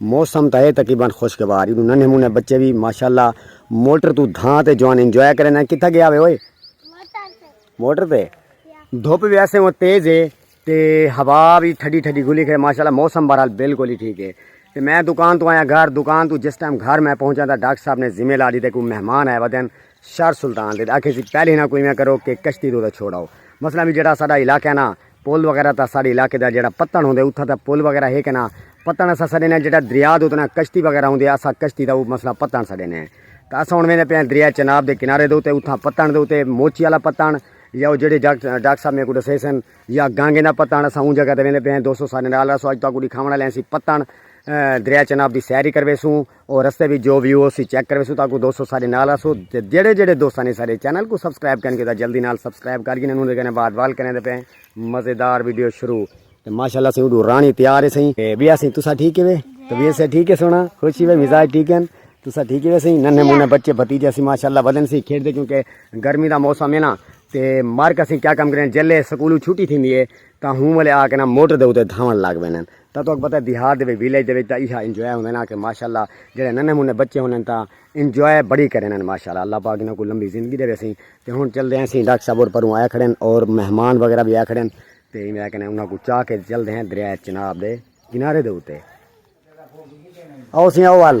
موسم تاں اے تقریبا خوشگوار ای ننھے منھے بچے وی ماشاءاللہ موٹر توں دھاں تے جوان انجوائے کرن ہیں کتھا گیا وے اوئے موٹر تے دھوپ وی ایسے وہ تیز ہے تے ہوا وی ٹھڈی ٹھڈی گھلی کھڑے ماشاءاللہ موسم بہرحال بالکل ہی ٹھیک ہے تے میں دکان تو آیا گھر دکان تو جس ٹائم گھر میں پہنچا تھا ڈاکٹر صاحب نے ذمہ لا دی تے کوئی مہمان آئے ودن شہر سلطان دے آکھے سی پہلے نہ کوئی میں کرو کہ کشتی تو چھوڑاؤ مثلا بھی جڑا ساڈا علاقہ ہے نا پل وغیرہ تا ساڑے علاقے دا جڑا پتن ہوندے اتھا تا پل وغیرہ ہے کنا پتن اسا سڑے نے جڑا دریا دو تنا کشتی وغیرہ ہوندے اسا کشتی دا او مسئلہ پتن سڑے نے تا اسا ہن ویندے پے دریا چناب دے کنارے دو تے اتھا پتن دو تے موچی والا پتن یا او جڑے ڈاکٹر صاحب میکو دسے سن یا گانگے دا پتن اسا اون جگہ تے ویندے پے دوستو سارے نال اسا اج تو کو دکھاون والے سی پتن دریا چناب دی سیر ہی کروے سوں او رستے وچ جو ویو ہوسی چیک کرویسوں تاکوں دوستو سارے نال آسو تے جیڑھے جیڑھے دوستاں نے سارے چینل کو سبسکرائب کین کیتا جلدی نال سبسکرائب کر گھنن اوندے کنے بعد وال کریندے پے مزیدار ویڈیو شروع تے ماشاءاللہ سیں اڈو رانی تیار ہے سیں تے بیا سیں تسا ٹھیک ہے طبیعت سے ٹھیک ہے سونا خوشی وے مزاج ٹھیک ہیں تسا ٹھیک ہے سیں ننے مونے بچے بھتیجے سی ماشاءاللہ بدن سی کھیڈ دے کیونکہ گرمی دا موسم ہے نا تے مارکا سیں کیا کم کریں جلے سکولو چھٹی تھیندی ہے تاں ہوں والے آ کے نا موٹر دے اتے دھاون لگ ویندن تاں تہاکوں پتہ ہے دیہات دے وچ ویلیج دے وچ تاں ایہا انجوائے ہوندے نا کہ ماشاءاللہ جیڑھے ننھے منھے بچے ہوندن تاں انجوائے بڑی کریندن ماشاءاللہ اللہ پاک انہاں کوں لمبی زندگی ڈیوے اسی تے ہن چلدے ہیں اسی ڈاکٹر صاحب اور پروں آئے کھڑے ہیں اور مہمان وغیرہ بھی آئے کھڑے ہیں تے ایویں آ کے نا انہاں کوں چاہ کے چلدے ہیں دریا چناب دے کنارے دے اتے آؤ سی آؤ ول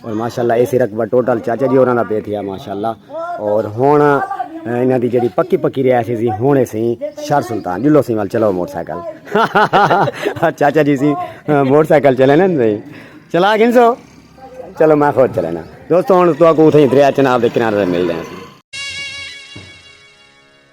اور ماشاء اللہ اے سی رقبہ ٹوٹل چاچا جی ہوراں دا پے تھیا ماشاء اللہ اور ہن انہاں دی جڑی پکی پکی رہائش سی ہن اے سی شہر سلطان جلو سی وال چلو موٹر سائیکل چاچا جی سی موٹر سائیکل چلے نا نہیں چلا گنسو چلو میں خود چلے نا دوستو ہن تو کو اتھے دریا چناب دے کنارے مل رہے ہیں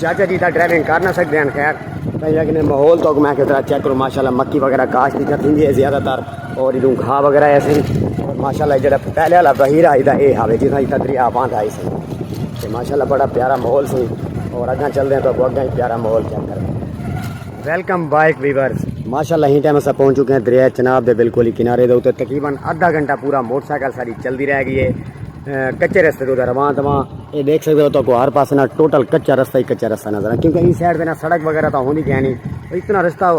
چاچا جی دا ڈرائیونگ کر نہ سکتے ہیں خیر کہیں اگنے ماحول تو میں کہتا چیک کروں ماشاءاللہ مکی وغیرہ کاش دی کرتی ہے زیادہ تر اور ادوں گھا وغیرہ ہے سن اور ماشاءاللہ جڑا پہلے والا بحیرہ ہے دا اے ہاوے جتنا جتا دریا باندھ ہے سن تے ماشاءاللہ بڑا پیارا ماحول سن اور اگاں چل دے ہیں تو اگاں اگاں پیارا ماحول چیک کر دیں ویلکم بائک ویورز ماشاءاللہ ہی ٹائم اسا پہنچ چکے ہیں دریا چناب دے بالکل ہی کنارے دے اوتے تقریبا آدھا گھنٹہ پورا موٹر سائیکل ساری چلدی رہ گئی ہے کچے رستے تو رواں تواں یہ دیکھ سکتے ہو تو کو ہر پاس نہ ٹوٹل کچا رستہ ہی کچا رستہ نظر آئے کیونکہ اس سائڈ پہ نہ سڑک وغیرہ تو ہوندی کہیں نہیں اتنا رستہ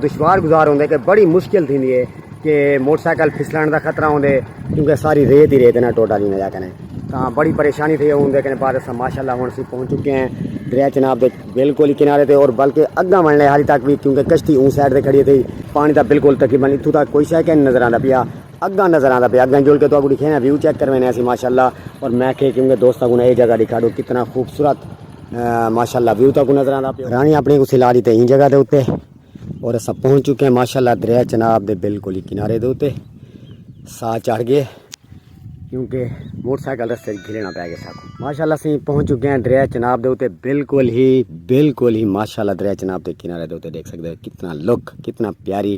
دشوار گزار ہوندے کہ بڑی مشکل تھی ہے کہ موٹر سائیکل پھسلان دا خطرہ ہوندے کیونکہ ساری ریت ہی ریت نہ ٹوٹل ہی نہ کہیں تاں بڑی پریشانی تھی ہوندے کہیں بعد اسا ماشاءاللہ ہن سی پہنچ چکے ہیں دریا چناب دے بالکل ہی کنارے تے اور بلکہ اگاں ون لے حالی تک بھی کیونکہ کشتی اون سائڈ تے کھڑی تھی پانی دا بالکل تقریبا اتھوں تک کوئی شے کہ نظر آندا پیا اگاں نظر آندا پیا اگاں جول کے تو اگو دکھینا ویو چیک کروینے اسی ماشاءاللہ اور میں کہ کیونکہ دوستاں کو اے جگہ دکھا دو کتنا خوبصورت ماشاءاللہ ویو تا کو نظر آندا پیا رانی اپنے کو سلا دیتے این جگہ دے اوتے اور اسا پہنچ چکے ہیں ماشاءاللہ دریا چناب دے بالکل کنارے دے اوتے سا چڑھ گئے کیونکہ موٹر سائیکل رستے گھلنا پے گئے ساکو ماشاءاللہ سی پہنچ چکے ہیں دریا چناب دے اوتے بالکل ہی بالکل ہی ماشاءاللہ دریا چناب دے کنارے دے اوتے دیکھ سکتے ہو کتنا لک کتنا پیاری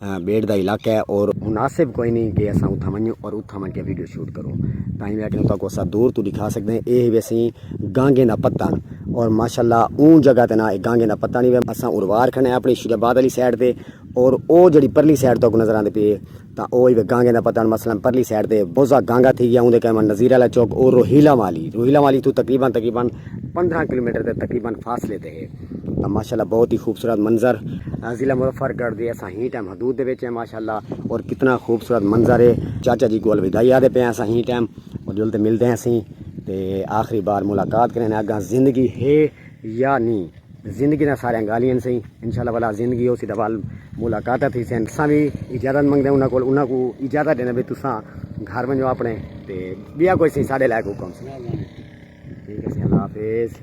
بیٹ دا علاقہ ہے اور مناسب کوئی نہیں کہ اساں اتھاں ونجوں اور اتھاں ونج کے ویڈیو شوٹ کروں تاں میں کہ تاکو اسا دور تو دکھا سکدے ہیں اے وی اسی گانگیں دا پتہ اور ماشاءاللہ اون جگہ تے نا اے گانگیں دا پتہ نہیں وے اساں اروار کھنے اپنی شری آباد والی سائیڈ تے اور او جڑی پرلی سائیڈ تو نظر آندے پی تاں او وی گانگیں دا پتہ مثلا پرلی سائیڈ تے بوزا گانگا تھی گیا اون دے کہے نظیر والا چوک اور روہیلا والی روہیلا والی تو تقریبا تقریبا 15 کلومیٹر تے تقریبا فاصلے تے ہے ماشاءاللہ بہت ہی خوبصورت منظر ضلع مظفر گڑھ دے اساں ہی ٹائم حدود دے وچ ہیں ماشاءاللہ اور کتنا خوبصورت منظر ہے چاچا جی گول ودائی آدھے پہ اساں ہی ٹائم اور جل تے ملتے ہیں اسی تے آخری بار ملاقات کریں اگاں زندگی ہے یا نہیں زندگی نہ سارے گالیاں سی انشاءاللہ والا زندگی ہو سی تے وال ملاقات تھی سین سا بھی اجازت منگتے انہاں کول انہاں کو اجازت دینا بھی تساں گھر ونجو اپنے تے بیا کوئی سی ساڈے لائق حکم سی ٹھیک ہے سی اللہ حافظ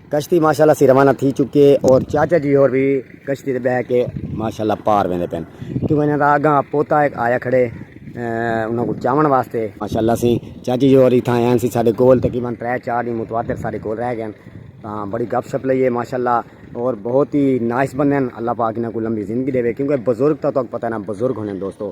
کشتی ماشاءاللہ سی روانہ تھی چکے اور چاچا جی اور بھی کشتی تے بیٹھ کے ماشاءاللہ پار ویندے پن کیوں انہاں دا اگاں پوتا ایک آیا کھڑے انہاں کو چاون واسطے ماشاءاللہ سی چاچی جی اور ایتھاں ہیں سی ساڈے کول تقریبا 3 4 دن متواتر ساڈے کول رہ گئے تاں بڑی گپ شپ لئیے ماشاءاللہ اور بہت ہی نائس بندے ہیں اللہ پاک انہاں کو لمبی زندگی دے کیونکہ بزرگ تو تک پتہ نہ بزرگ ہونے دوستو